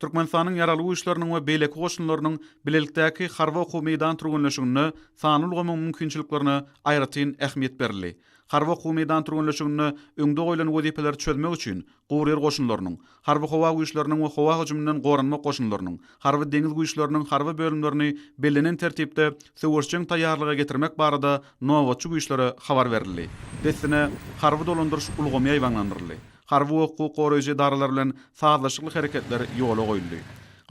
Türkmenistanyň Ýaragly Güýçleriniň we beýleki goşunlarynyň bilelikdäki harby-okuw-meýdan türgenleşiginde sanly ulgamyň mümkinçiliklerine aýratyn ähmiýet berildi. Harby-okuw-meýdan türgenleşiginde öňde goýlan wezipeleri çözmek üçin guryýer goşunlarynyň, Harby-howa güýçleriniň we howa hüjüminden goranmak goşunlarynyň, Harby-deňiz güýçleriniň harby bölümlerini bellenen tertipde söweşjeň taýýarlyga getirmek barada nobatçy güýçlere habar berildi. Dessine harby dolandyryş ulgamy ýaýbaňlandyryldy. Harby we hukuk goraýjy edaralar bilen sazlaşykly hereketler ýola goýuldy.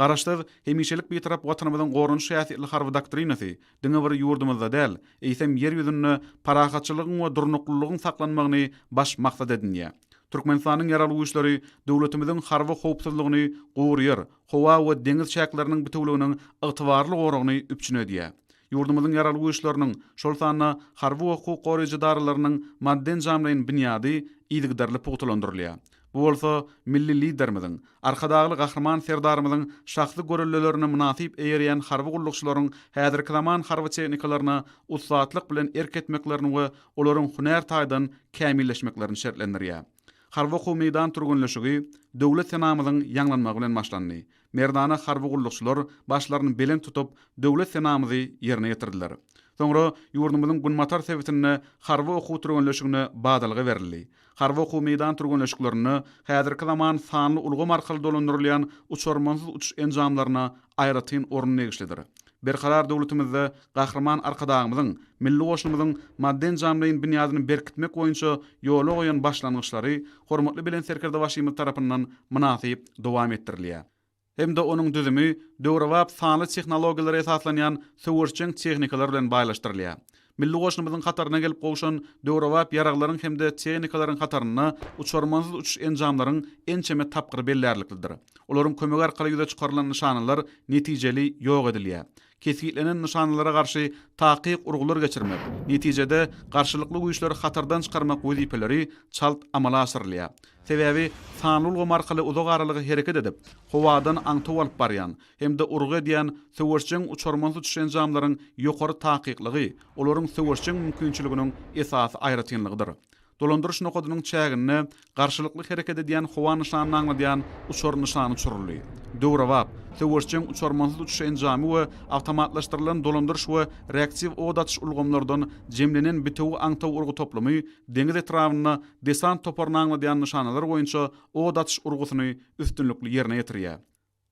Garaşsyz, hemişelik Bitarap Watanymyzyň goranyş häsiýetli harby doktrinasy diňe bir ýurdumyzda däl, eýsem, Ýer ýüzünde parahatçylygyň we durnuklylygyň saklanmagyny baş maksat edinýär. Türkmenistanyň Ýaragly Güýçleri döwletimiziň harby howpsuzlygyny gurýar, howa we deňiz çäkleriniň bitewüliginiň ygtybarly goragyny üpjün edýär. Ýurdumyzyň Ýaragly Güýçleriniň, şol sanda harby we hukuk goraýjy edaralarynyň maddy-enjamlaýyn binýady yzygiderli pugtalandyrylýar. Bu bolsa milli Liderimiziň, Arkadagly Gahryman Serdarymyzyň şahsy göreldelerini mynasyp eýerýän harby gullukçylaryň häzirki zaman harby tehnikalaryna ussatlyk bilen erk etmeklerini we olaryň hünär taýdan kämilleşmeklerini şertlendirýär. Harby-okuw meýdan türgenleşigi döwlet senamyzyň ýaňlanmagy bilen başlandy. Merdana harby gullukçylar başlaryny belent tutup, Döwlet senamyzy ýerine ýetirdiler. Soňra ýurdumyzyň günbatar sebitinde harby okuw türgenleşigine badalga berildi. Harby okuw meýdan türgenleşiklerinde häzirki zaman sanly ulgam arkaly dolandyrylýan uçarmansyz uçuş enjamlaryna aýratyn orun degişlidir. Berkarar döwletimizde Gahryman Arkadagymyzyň milli goşunymyzyň maddy-enjamlaýyn binýadyny berkitmek boýunça ýola goýan başlangyçlary hormatly Belent Serkerdebaşymyz tarapyndan mynasyp dowam etdirilýär hem-de onuň düzümi döwrebap sanly tehnologiýalara esaslanýan söweşjeň tehnikalar bilen baýlaşdyrylýar. Milli goşunymyzyň hataryna gelip gowşan döwrebap ýaraglaryň hem-de tehnikalaryň hatarynda uçarmansyz uçuş enjamlaryň ençeme tapgyry bellärliklidir. Olaryň kömegi arkaly ýüze çykarylan nyşanalar netijeli ýok edilýär. Kesgitlenen nyşanalara garşy takyk urgular geçirmek, netijede garşylykly güýçleri hatardan çykarmak wezipeleri çalt amala aşyrylýar. Sebäbi sanly ulgam arkaly uzak aralyga hereket edip, howadan aňtaw alyp barýan, hem-de urgy edýän söweşjeň uçarman uçuş enjamlaryň ýokary takyklygy olaryň söweşjeň mümkinçiliginiň esasy aýratynlygydyr. Dolandyryş nokadynyň çäginde garşylykly hereket edýän howa nyşanyny aňladýan uçar nyşany uçuryldy. Döwrebap, söweşjeň uçarman uçuş enjamy we awtomatlaşdyrylan dolandyryş we reaktiw ot atyş ulgamlardan jemlenen bitewi aňtaw urgy toplumy deňiz etrabynda desant toparyny aňladýan nyşanalar boýunça ot atyş urgusyny üstünlikli ýerine ýetirýär.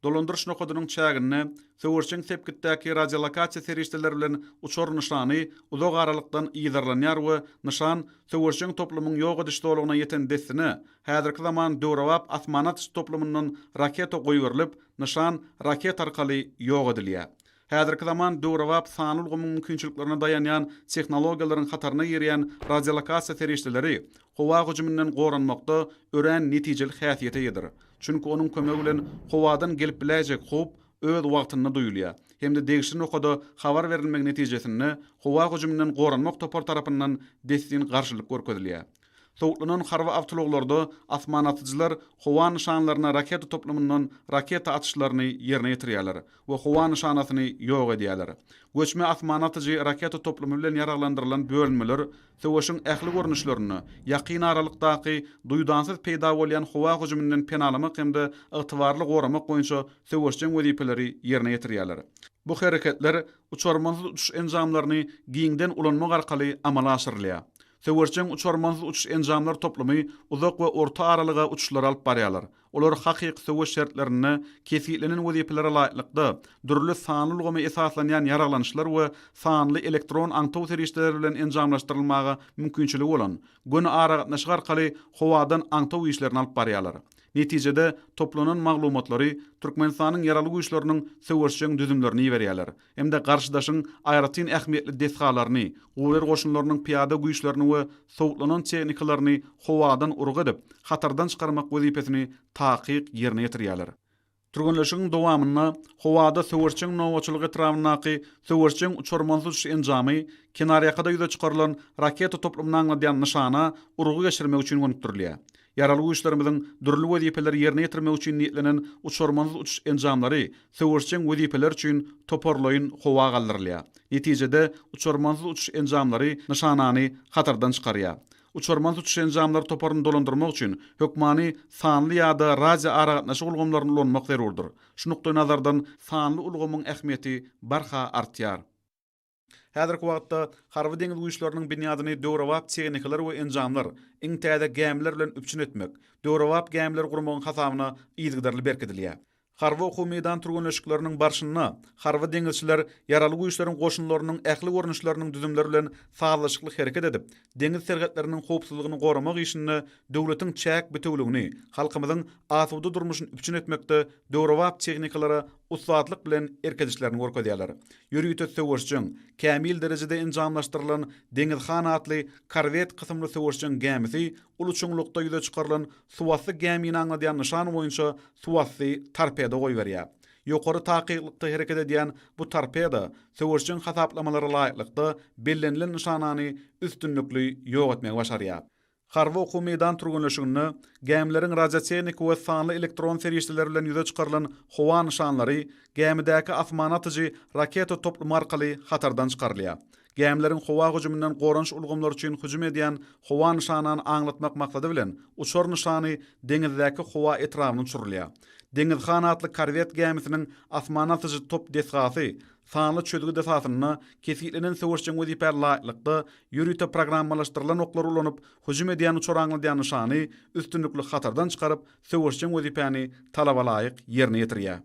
Dolandyryş nokadynyň çäginde söweşjeň sepgitdäki radiolokasiýa serişdeleri bilen uçar nyşany uzak aralykdan yzarlanýar we nyşan söweşjeň toplumyň ýok ediş zolagyna ýeten dessine häzirki zaman döwrebap asmana atyş toplumyndan raketa goýberilip, nyşan raketa arkaly ýok edilýär. Häzirki zaman döwrebap sanly ulgamyň mümkinçiliklerine daýanýan tehnologiýalaryň hataryna girýän radiolokasiýa serişdeleri howa hüjüminden goranmakda örän netijeli häsiýete eýedir, çünki onuň kömegi bilen howadan gelip biläýjek howp öz wagtynda duýulýar hem-de degişli nokada habar berilmegi netijesinde howa hüjüminden goranmak topary tarapyndan dessin garşylyk görkezilýär. Sowutlanan harby awtoulaglarda asmanatyjylar howa nyşanlaryna raketa toplumyndan raketa atyşlaryny ýerine ýetirýärler we howa nyşanasyny ýok edýärler. Göçme asmanatyjy raketa toplumy bilen ýaraglandyrylan bölünmeler söweşiň ähli görnüşlerinde, ýakyn aralykdaky duýdansyz peýda bolýan howa hüjüminden penalamak hem-de ygtybarly goramak boýunça söweşjeň wezipeleri ýerine ýetirýärler. Bu hereketler uçarmansyz uçuş enjamlaryny giňden ulanmak arkaly amala aşyrylýar. Söweşjeň uçarmansyz uçuş enjamlar toplumy uzak we orta aralyga uçuşlary alyp barýarlar. Olar hakyky söweş şertlerinde kesgitlenen wezipelere laýyklykda, dürli sanly ulgama esaslanýan ýaraglanyşlar we sanly elektron aňtaw serişdeleri bilen enjamlaşdyrylmaga mümkinçiligi bolan, göni aragatnaşyk arkaly howadan aňtaw işlerini alyp barýarlar. Netijede, toplanan maglumatlary Türkmenistanyň Ýaragly Güýçleriniň söweşjeň düzümlerine iberýärler hem-de garşydaşyň aýratyn ähmiýetli desgalaryny, guryýer goşunlarynyň pyýada güýçlerini we sowutlanan tehnikalaryny howadan urgy edip, hatardan çykarmak wezipesini takyk ýerine ýetirýärler. Türgenleşigiň dowamynda howada söweşjeň nobatçylyk etrabyndaky söweşjeň uçarmansyz uçuş enjamy, kenarýakada ýüze çykarylan raketa toplumyny aňladýan nyşana urgy geçirmek üçin gönükdirilýär. Ýaragly Güýçlerimiziň dürli wezipeleri ýerine ýetirmek üçin niýetlenen uçarmansyz uçuş enjamlary söweşjeň wezipeler üçin toparlaýyn howa galdyrylýar. Netijede, uçarmansyz uçuş enjamlary nyşanany hatardan çykarýar. Uçarmansyz uçuş enjamlary toparyny dolandyrmak üçin hökmany sanly ýa-da radioaragatnaşyk ulgamlaryny ulanmak zerurdyr. Şu nukdaýnazardan sanly ulgamyň ähmiýeti barha artýar. Häzirki wagtda Harby-deňiz güýçleriniň binýadyny döwrebap tehnikalar we enjamlar, iň täze gämiler bilen üpjün etmek, döwrebap gämileri gurmagyň hasabyna yzygiderli berkidilýär. Harby okuw-meýdan türgenleşikleriniň barşynda harby deňizçiler Ýaraly Güýçleriň goşunlarynyň ähli görnüşleriniň düzümleri bilen sazlaşykly hereket edip, deňiz serhetleriniň howpsuzlygyny goramak işinde döwletiň çäk bitewüligini, halkymyzyň asuda durmuşyny üpjün etmekde döwrebap tehnikalara ussatlyk bilen erk edişlerini görkezýärler. Ýörite söweşjeň, kämil derejede enjamlaşdyrylan Deňiz han atly korwet kysymly söweşjeň gämisi uly çuňlukda ýüze çykarylan suwasty gämini aňladýan nyşan boýunça suwasty torpedo goýberýär. Ýokary takyklykda hereket edýän bu torpedo söweşjeň hasaplamalara laýyklykda bellenilen nyşanany üstünlikli ýok etmegi başarýar. Harby okuw meýdan türgenleşiginde gämileriň radiotehniki we sanly elektron serişdeler bilen ýüze çykarylan howa nyşanlary gämidäki asmana atyjy raketa toplumy arkaly hatardan çykarylýar. Gämileriň howa hüjüminden goranyş ulgamlary üçin hüjüm edýän howa nyşanany aňlatmak maksady bilen uçar nyşany deňizdäki howa etrabyna uçurylýar. Deňiz han atly korwet gämisiniň asmana atyjy top desgasy Sanly çözgüt esasynda kesgitlenen söweşjeň wezipä laýyklykda ýörite programmalaşdyrylan oklary ulanyp, hüjüm edýän uçar aňladýan nyşany üstünlikli hatardan çykaryp, söweşjeň wezipäni talaba laýyk ýerine ýetirýär.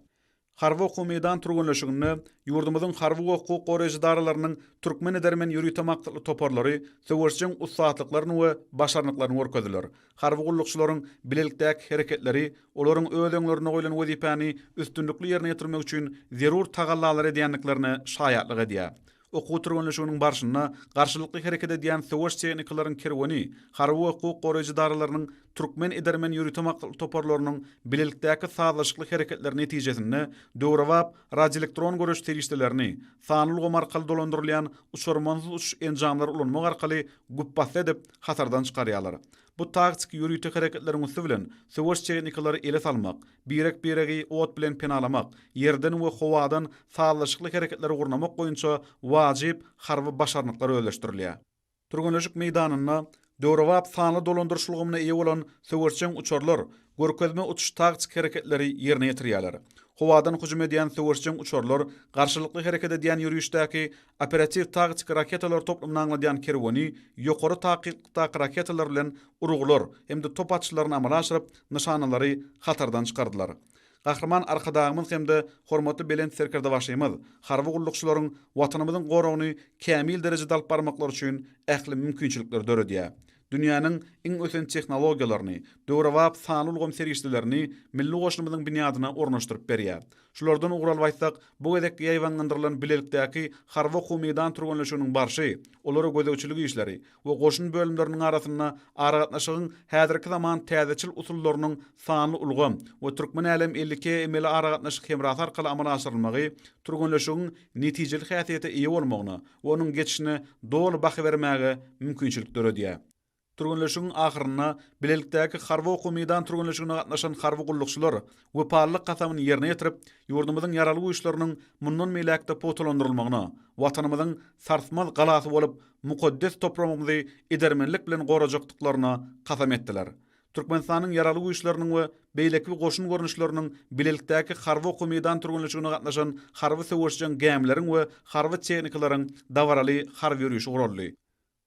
Harby okuw meýdan türgenleşiginde ýurdumyzyň harby we hukuk goraýjy edaralarynyň türkmen edermen ýörite maksatly toparlary söweşjeň ussatlyklaryny we başarnyklaryny görkezdiler. Harby gullukçylaryň bilelikdäki hereketleri olaryň öz öňlerinde goýlan wezipäni üstünlikli ýerine ýetirmek üçin zerur tagallalary edýändiklerine şaýatlyk edýär. Okuw-türgenleşiginiň barşynda garşylykly hereket edýän söweş tehnikalaryň kerweni harby we hukuk goraýjy edaralarynyň türkmen edermen ýörite maksatly toparlarynyň bilelikdäki sazlaşykly hereketleri netijesinde döwrebap radioelektron görüş serişdelerini, sanly ulgam arkaly dolandyrylýan uçarmansyz uçuş enjamlary ulanmak arkaly güpbasdy edip hatardan çykarýarlar. Bu taktiki ýörite hereketleriň üsti bilen söweş tehnikalary ele salmak, birek-biregi ot bilen penalamak, ýerden we howadan sazlaşykly hereketleri gurnamak boýunça wajyp harby başarnyklar özleşdirilýär. Türgenleşik meýdanynda döwrebap sanly dolandyryş ulgamyna eýe bolan söweşjeň uçarlar görkezme uçuş taktiki hereketleri ýerine ýetirýärler. Howadan hüjüm edýän söweşjeň uçarlar garşylykly hereket edýän ýörişdäki operatiw-taktiki raketalar toplumyny aňladýan kerweni ýokary takyklykdaky raketalar bilen urgular hem-de top atyşlaryny amala aşyryp, nyşanalary hatardan çykardylar. Gahryman Arkadagymyz hem-de hormatly Belent Serkerdebaşymyz harby gullukçylaryň Watanymyzyň goragyny kämil derejede alyp barmaklary üçin ähli mümkinçilikleri döredýär. dünýäniň iň ösen tehnologiýalaryny, döwrebap sanly ulgam serişdelerini milli goşunymyzyň binýadyna ornaşdyryp berýär. Şulardan ugur alyp aýtsak, bu gezekki ýaýbaňlandyrylan bilelikdäki harby-okuw-meýdan türgenleşiginiň barşy, olara gözegçilik işleri we goşun bölümleriniň arasynda aragatnaşygyň häzirki zaman täzeçil usullarynyň sanly ulgam we Türkmenälem elli iki emeli aragatnaşyk hemrasy arkaly amala aşyrylmagy türgenleşigiň netijeli häsiýete eýe bolmagyna onuň geçişine doly baha bermäge mümkinçilik döredýär. Türgenleşigiň ahyrynda bilelikdäki harby okuw-meýdan türgenleşigine gatnaşan harby gullukçylar wepalylyk kasamyny ýerine ýetirip, ýurdumyzyň Ýaragly Güýçleriniň mundan beýläk-de pugtalandyrylmagyna, Watanymyzyň sarsmaz galasy bolup, mukaddes topragymyzy edermenlik bilen gorajakdyklaryna kasam etdiler. Türkmenistanyň Ýaragly Güýçleriniň we beýleki goşun görnüşleriniň bilelikdäki harby okuw-meýdan türgenleşigine gatnaşan harby söweşjeň gämileriň we harby tehnikalaryň dabaraly harby ýörişi guraldy.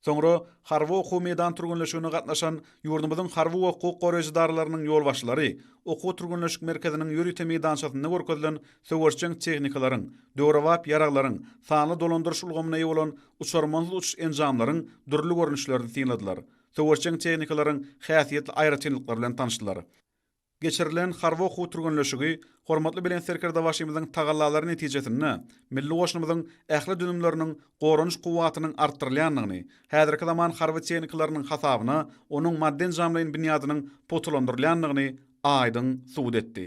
Soňra harby okuw-meýdan türgenleşigine gatnaşan ýurdumyzyň harby we hukuk goraýjy edaralarynyň ýolbaşçylary okuw-türgenleşik merkeziniň ýörite meýdançasynda görkezilen söweşjeň tehnikalaryň, döwrebap ýaraglaryň, sanly dolandyryş ulgamyna eýe bolan uçarmansyz uçuş enjamlaryň dürli görnüşlerini synladylar. söweşjeň tehnikalaryň häsiýetli aýratynlyklary bilen tanyşdylar. Geçirilen harby okuw türgenleşigi hormatly Belent Serkerdebaşymyzyň tagallalary netijesinde milli goşunymyzyň ähli düzümleriniň goranyş kuwwatynyň artdyrylýandygyny, häzirki zaman harby tehnikalarynyň hasabyna onuň maddy-enjamlaýyn binýadynyň pugtalandyrylýandygyny aýdyň subut etdi.